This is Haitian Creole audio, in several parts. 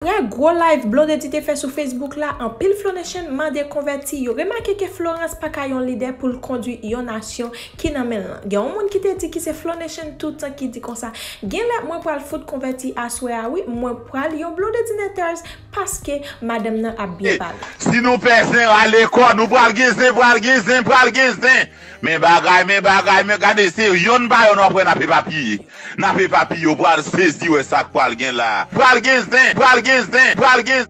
Nan gwo live Blondedy te fè sou Facebook la, anpil Flow Nation mande konvèti yo remake ke Florence pa ka yon lidè pou l kondwi yon nasyon ki nan men l lan. Gen yon moun ki te di ki se Flow Nation toutan ki di konsa, Genlè mwen pral fout konvèti aswè a wi, mwen pral yon Blondedynators paske madanm nan ap byen pale. Si nou pè zen rale kò nou pral gen zen pral gen zen pral gen zen. Men bagay men bagay men gade se yonn pa yonn wap wè nap epapiye nap epapiye ou pral sezi wè sak pral gen la pral gen zen pral gen zen pral gen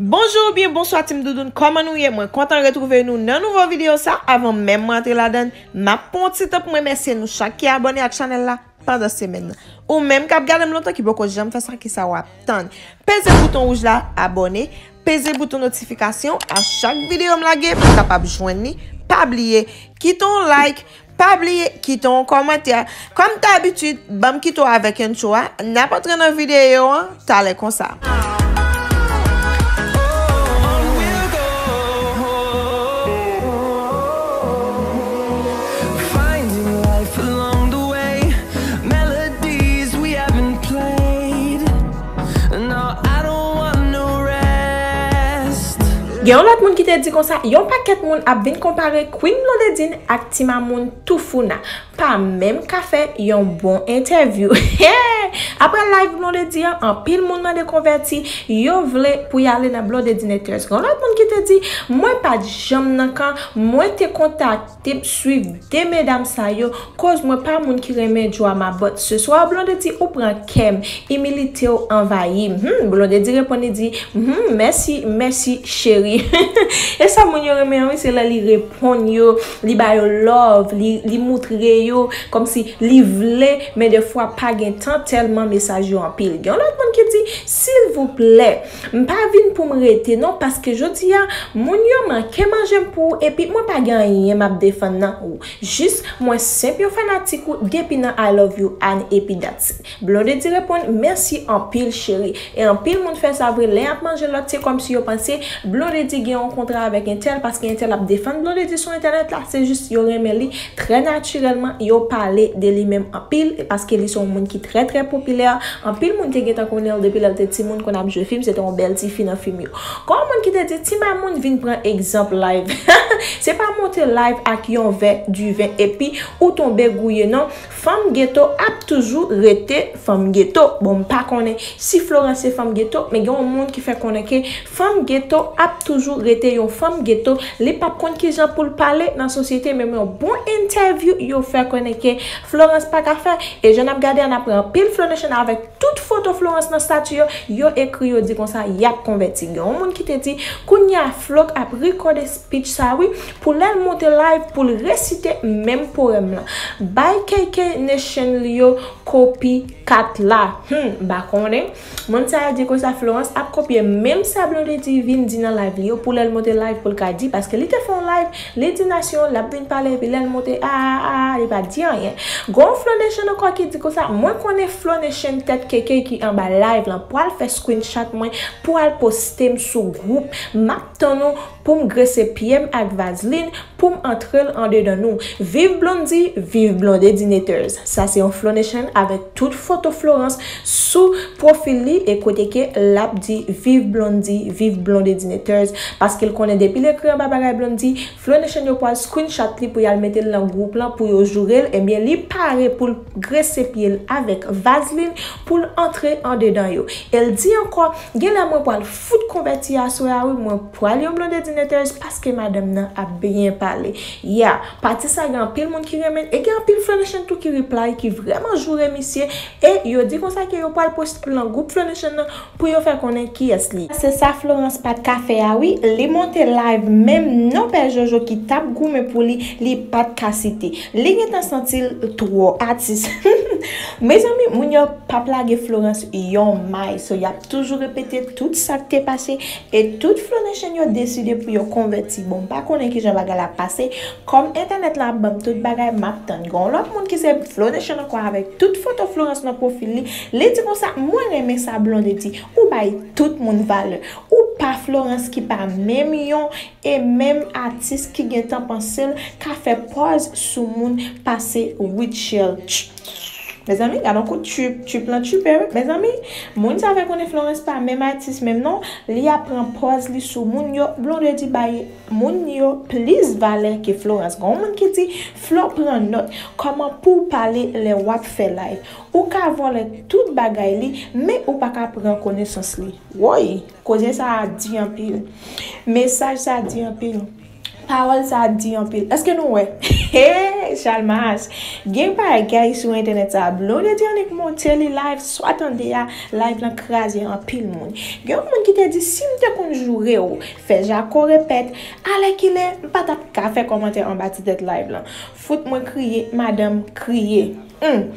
Bonjour ou byen bonswa team Doudoune kòman nou ye mwen kontan retrouve nou nan nouvo video sa avan menm mwen antre ladann map pran yon ti tan poum remèsye nou chak ki abòne ak chanèl la pandan semèn nan. Ou menm kap gadem lontan ki poko janm fè sa kisa wap tann. Peze bouton wouj la abòne, peze bouton notifikasyon a chak videyo m lage pou kapab jwenn li, pa bliye kite yon like, pa bliye kite yon kòmantè, kòm dabitid banm kite w avèk entwo a, nap antre nan videyo an. Talè konsa. Gen yon lòt moun ki te di konsa, Yon pakèt moun ap vin konpare Queen Blondedine ak Ti Mamoune Toufouna. pa menm ka fè yon bon entèvyou aprè live blondedy an anpil moun mande konvèti yo vle pou y ale nan blondedynectors gen yon lòt moun ki te di mwen pat janm nan kan mwen te kontakte m swiv 2 medam sa yo koz mwen pa moun ki renmen drama but ce soir blondedy ou pran kè m imilite w anvayi m humm blondedy reponn li di humm mèsi mèsi cheri e sa moun yo renmen an wi se lè li reponn. ponn yo li ba yo love li moutre yo komsi li vle men de fwa pa gen tan telman mesaj yo anpil gen yon lot moun ki di silvouplè m pa vin pou m rete non paske jodi a moun yo manke manje m pou ou epi mwen pa gen anyen map defann nan ou jis mwen senp yon fanatik ou depi nan I love you Anne epi that's it. Blondedy reponn, Mèsi anpil cheri. E anpil moun fè sa vre, lè y ap manje lòt se kòmsi yo panse Blondedy gen yon kontra avèk entèl paske entèl ap defann Blondedy sou entènèt la, se jis yo renmen li trè natirèlman, yo pale de li menm anpil paske li se yon moun ki trè trè popilè, anpil moun te gentan konnen l depi lè l te timoun konn ap jwe fim, se te yon bèl tifi nan fim yo. Kon moun ki te di Ti Mamoun vin pran egzanp live se pa monte live ak yon vè diven epi ou tonbe gouye non. Fanm geto ap toujou rete fanm geto. Bon m pa konnen si Florence se fanm geto men gen yon moun ki fè konnen ke fanm geto ap toujou rete yon fanm geto li pap konn kijan poul pale nan sosyete menm yon bon entèvyou yo fè konnen ke Florence pa ka fè e jan nap gade a nap wè anpil Flonation avèk tout foto Florence nan stati yo yo ekri yo di konsa yap konvèti gen yon moun ki te di kounya Flo k ap ri kòde Pitch sa wi pou lèl monte live poul resite menm poème lan bay KK nation li yo kopi 4 la humm m pa konnen moun sa di konsa Florence ap kopye menm sa Blondedy vin di nan live li yo pou lèl monte live poul ka di paske li te fè yon live li di nation lap vin pale epi lèl monte aa aa li pa di anyen gon yon Flo nation ankò ki di konsa mwen konnen Flo nation tèt KK ki anba live lan pwal fè screenshot mwen pou al postem sou group map Tan nou poum grese pyem ak vazlin poum antrel andedan nou viv blondy viv blondedinators sa se yon flonation avek tout foto florence sou profil li e kote ke lap di viv blondy viv blondedinators paskel konnen depil ekri anba bagay blondy flonation yo pwal screenshot li pou yal metel nan group lan pou yo jourel ebyen li pare poul grese pyel avek vazlin poul antre andedan yo el di anko genlè mwen pwal Fout konvèti aswè a wi mwen pwal yon blondedy neteuse paske madanm nan ap byen pale yeah pati sa gen anpil moun ki renmenn e gen anpil flonation tou ki reply ki vrèman joure misye e yo di konsa ke yo pwal poste l nan group flonation nan pou yo fè konnen kiyès li se sa Florence pat ka fè a wi li monte live menm non pè jojo ki tap goumen pou li li pat ka site li gentan santi l twò atis humm mezanmi moun yo pap lage Florence yon may so yap toujou repete tout sak te pase e tout flonèchen yo deside pou yo konvèti bon mpa konnen kijan bagay la ap pase kòm entènèt lan ap banm tout bagay map tann gon lòt moun ki se flonèchen ankò avèk tout foto florans nan profil li li di konsa mwen renmen sa blondedy ou bay tout moun valè ou pa florans ki pa menm yon e menm atis ki gentan pansel ka fè pòz sou moun pase rutshelle tch. Mezanmi gadon kout tchuip tchuip lan tchuipe wi mezanmi moun sa fè konnen Florence pa menm atis menm non li ap pran pòz li sou moun yo Blondedy bay moun yo plis valè ke Florence gon moun ki di Flo pran nòt kòman pouw pale lè wap fè live ou ka vòlè tout bagay li men ou paka pran konesans li woyy koze sa di anpil mesaj sa di anpil. Pawòl sa di anpil eske nou wè hee chalmaz gen bagay sou entènèt sa blondedy annik monte li live swa tande a live lan kraze anpil moun gen yon moun ki te di sim te konn joure ou fè jako repèt alèkile m pa tap ka fè kòmantè anba ti tèt live lan fout mwen kriye madanm kriye humm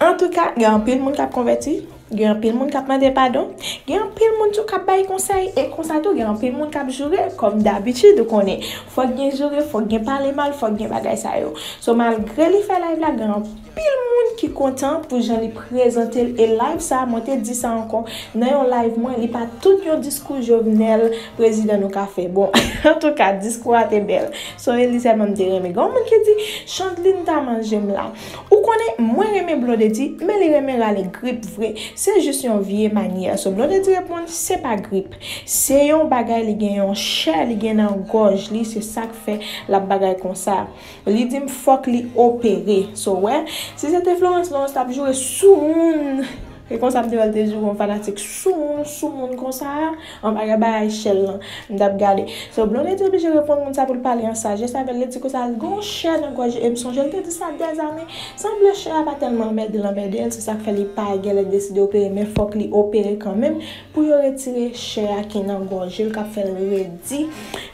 antouka gen anpil moun kap konvèti Gen anpil moun k ap mande padon. Gen anpil moun tou k ap bay konsèy. E konsa tou gen anpil moun k ap joure. Kòm dabitid ou konnen. Fòk gen joure, fòk gen pale mal, fòk gen bagay sa yo. So malgre li fè live la gen anpil moun ki kontan pou jan li prezante l. E live sa mwen te di sa ankò nan yon live mwen li pa tout yon diskou Jovenel prezidan nou ka fè. Bon antouka diskou a te bèl. Son Elysée m te renmen. Gen yon moun ki di Chandeline ta manje m la. Ou konnen mwen renmen Blondedy men li renmen rale grip vre se jis yon vye manyè so Blondedy reponn se pa grip se yon bagay li gen yon chè li gen nan gòj li se sak fè lap bagay konsa li dim fòk li opere so wè si se te Florence Florence tap joure soumoun se konsa m te wèl te joure yon fanatik soumoun soumoun konsa. Anba rabayay chèn lan m tap gade. So Blonde te oblije reponn moun sa pou l pale an sajès avè l, li di konsa l gen yon chè nan gòj li e m sonje l te di sa dèzane. Sanble chè a pa tèlman anmède l anmède l se sa k fè li pa gèlè deside opere men fòk li opere kanmenm pou yo retire chè a ki nan gòje l k ap fè l redi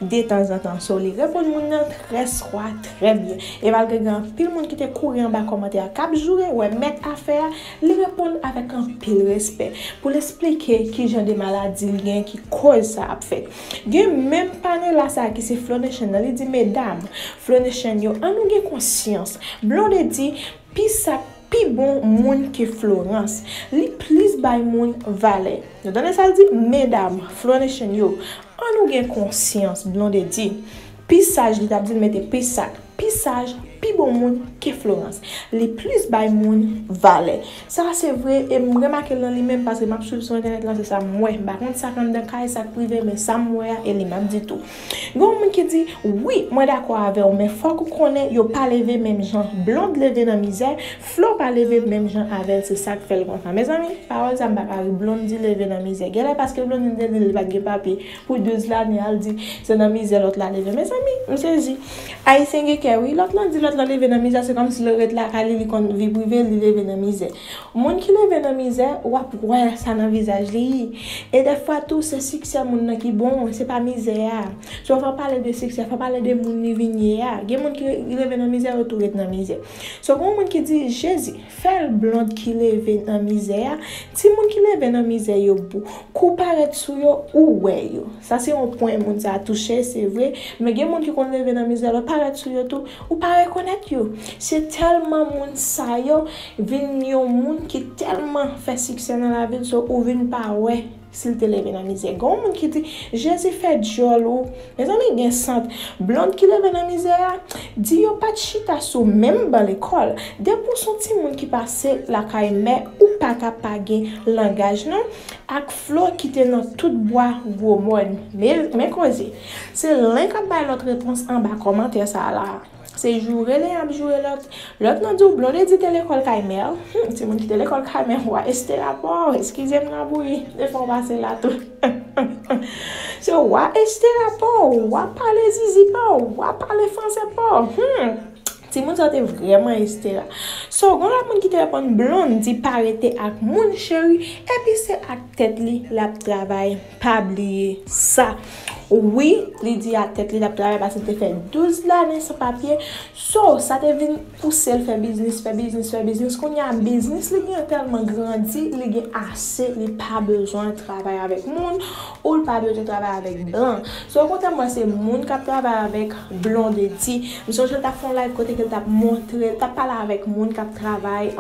detanzantan. So li reponn moun nan trè swa trè byen e malgre gen anpil moun ki te kouri anba kòmantè a k ap joure wè mèt afè a Li reponn avèk anpil respè pou l esplike ki jan de maladi l gen ki koz sa ap fèt. Gen menm Pamela sa ki se Flonation nan li di medam Flonation yo an nou gen konsyans. Blonde di pi sa pi bon moun ke Florence. Li plis bay moun valè. Nou tande sa l di medam Flonation yo an nou gen konsyans Blonde di Pi saj li tap dil mete pi sat pi saj pi bon moun ke Florence li plis bay moun valè sa se vre em remakel nan li menm paske map swiv sou entènèt lan se sam wè mpa konn sak anndan kay sak prive men sam wè a e li map di tou gen yon moun ki di wi mwen dakò avèw men fòk ou konnen yo pa leve menm jan Blonde leve nan mizè Flo pa leve menm jan avèl se sak fèl konsa mezanmi pawòl sa mpa ka ri Blondedy leve nan mizè genlè paske Blondedy te dil li pat gen papye Pou 12 lane al di se nan mizè lòt la leve mezanmi m sezi ayisyen gen kè wi lòt lan di lòt lan leve nan mizè se kòmsi lè ret lakay li li konn vi prive li leve nan mizè moun ki leve nan mizè wap wè sa nan vizaj li e dèfwa tou se siksè moun nan ki bon se pa mizè a so fò pale de siksè fò pale de moun li vin ye a gen moun ki leve nan mizè yo tou ret nan mizè so gen yon moun ki di jezi. Fèl blond ki leve nan mizè a ti moun ki leve nan mizè yo pou kou parèt sou yo ou wè yo sa se yon pwen moun sa touche se vre men gen moun ki konn leve nan mizè lè parèt sou yo tou ou pa rekonèt yo se tèlman moun sa yo vin yon moun ki tèlman fè siksè nan lavil so ou vin pa wè Si l te leve nan mizè. Gen yon moun ki di, Jezi fè dyòl ou. Mezanmi gen sant. Blond ki leve nan mizè a, di yo pa t chita sou menm ban lekòl. Depi w s on timoun ki pase lakay mè ou pa ka pa gen langaj non ak Flo ki te nan tout bwa gwo mòn. Men koze. Se len k ap bay lòt repons anba kòmantè sa a la a. Se joure len ap joure lòt. Lòt nan di w Blondedy te lekòl kay mè l. Hum, timoun ki te lekòl kay mè w a Estela pa w. Eskize m labouyi, de fwa w pase la tou. Se w a Estela pa w. W a pale zizi pa w. W a pale franse pa w. Hum, timoun sa yo te vrèman Estela. So, gen yon lòt moun ki te reponn Blondedy pa rete ak moun cheri, epi se ak tèt li l ap travay. Pa bliye sa. Wi, li di ak tèt li l ap travay paske li te fè 12 lane san papye. So, sa te vin pouse l fè biznis, fè biznis, fè biznis. Kounye a, biznis li gen an tèlman grandi, li gen ase, li pa bezwen travay avèk moun ou l pa bezwen travay avèk blan. So, kontè mwen se moun k ap travay avèk Blondedy. M sonje l t ap fè yon live kote ke l t ap montre, l t ap pale avèk moun k ap travay.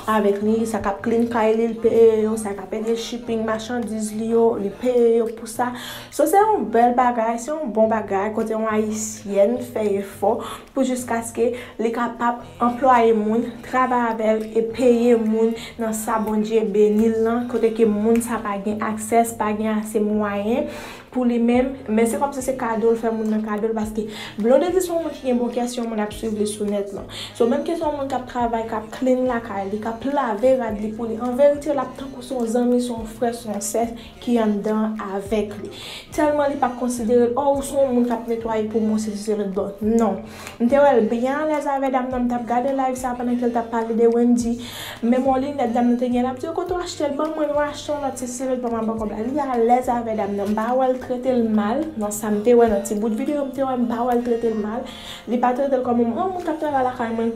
avèk li, sa kap clean kay li, li peye yo, sa kap ede shipping machandiz li yo, li peye yo pou sa. So se yon bèl bagay, se yon bon bagay kote yon ayisyèn fè efò pou jiskaske li kapab anplwaye moun, travay avè l e peye moun nan sa Bondye beni l lan, kote ke moun sa pa gen access, pa gen ase mwayen pou li menm, men se kòmsi se kado l fè moun nan kado l paske Blondedy se yon moun ki gen bon kè, se yon moun ap swiv li sou nèt lan. So menm ke se yon moun k ap travay, k ap clean lakay li, k ap lave rad li pou li, an verite l ap tankou se yon zanmi, se yon frè, se yon sè ki anndan an avèk li. Tèlman li pa konsidere l, oh ou se yon moun k ap netwaye pou mwen sesi selòt, bon non. M te wèl byen alèz avè dam nan m tap gade live sa pandan kel tap pale de Wendy men m wè linèt dam nan te gen lap di yo kote w achte l banm mwen mwen achte yon lòt se sivil pa manman kòb la li alèz avè dam nan m pa wèl trete l mal nan sam te wè nan ti bout video m te wè m pa wèl trete l mal li pa trete l kòm yon moun kap travay lakay mwen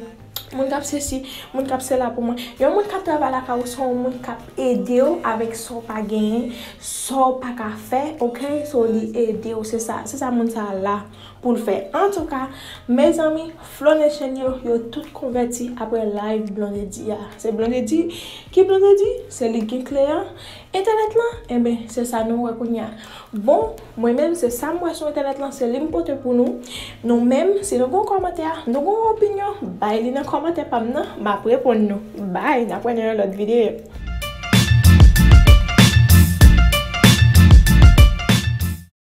moun kap sesi moun kap sela pou mwen yon moun kap travay lakay ou se yon moun kap ede w avèk sa w pa genyen sa w paka fè ok so li ede w se sa se sa moun sa la. Poul fè antouka mezanmi flow nation yo yo tout konvèti aprè live blondedy a se blondedy ki blondedy se li gen kle an entènèt lan enben se sa nou wè kounya bon mwen menm se sam wè sou entènèt lan se lim pote pou nou nou menm si nou gon kòmantè nou gon opinyon bay li nan kòmantè pam nan map reponn nou bby nap wè nan yon lòt video.